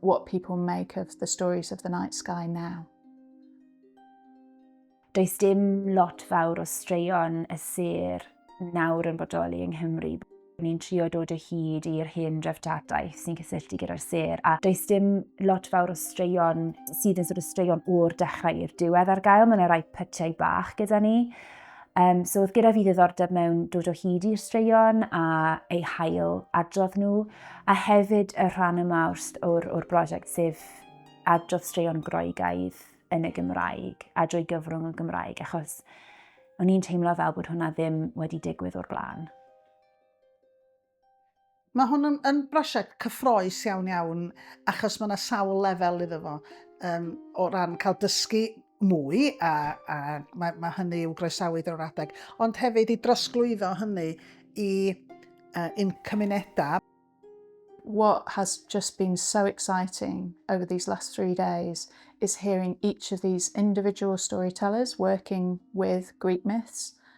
what people make of the stories of the night sky now. Does dim lot fawr o straeon y sir nawr yn bodoli yng Nghymru. Ni'n trio dod o hyd i'r hen dreftadaeth sy'n cysylltu gyda'r sir, a does dim lot fawr o straeon sydd yn sort of straeon o'r dechrau i'r diwedd ar gael. Mae'n rhai pytiau bach gyda ni. Um, so oedd gyda fi ddiddordeb mewn dod o hyd i'r straeon a eu hail adrodd nhw, a hefyd y rhan yma o'r, or brosiect sef adrodd straeon groegaidd yn y Gymraeg a drwy gyfrwng y Gymraeg, achos o'n i'n teimlo fel bod hwnna ddim wedi digwydd o'r blaen. Mae hwn yn, yn brosiect cyffroes iawn iawn achos mae yna sawl lefel iddo fo um, o ran cael dysgu mwy a, a mae, mae hynny i'w groesawu drwy'r adeg ond hefyd i drosglwyddo hynny i uh, un cymunedau. What has just been so exciting over these last three days is hearing each of these individual storytellers working with Greek myths